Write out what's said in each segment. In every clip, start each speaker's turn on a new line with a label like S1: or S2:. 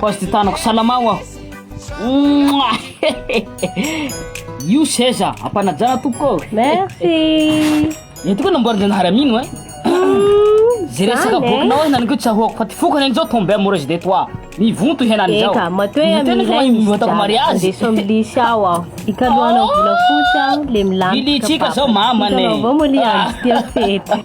S1: Kozy ty tanako, salama ho aho. Io seza, ampanajana tompoko. Merci.
S2: Ny tokoa
S1: namboarin-janahary amino eh. Zay resaka bokinao eh, henaniko tsy ahoako fa ty foko henany zao tombe amoureuse de toi. Mivonto henany zao. Eka, matoe amin'ny ilay
S2: izy jiaby.
S1: Mariage. Andeso amin'ny lisy aho
S2: aho. Ikalohanao oh! volafotsy aho le milany. Ilitsika zao mamane.
S1: Itanao vao moa le andro tia
S2: fety.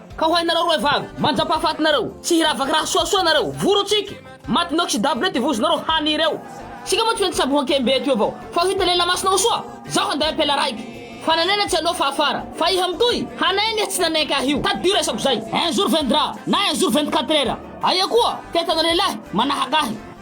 S1: Ka ho hainareo roe vavy, manjampahafaty nareo, tsy hiravaka raha soasoa nareo, voro tsiky, maty noxydable ty vozonareo haniry eo, tsika moa tsy maintsy samboho ankembe eto eo vao, fa ho hita lehilahy masina ho soa, zaho handay ampela raiky, fa nanena tsy anao fa afara, fa iha mitohy, hanenga iha tsy nanenka ahy io, tadidio resako zay, un jour viendra, na un jour vingt quatre heures, aia koa, te hitana lehilahy, manahaka ahy.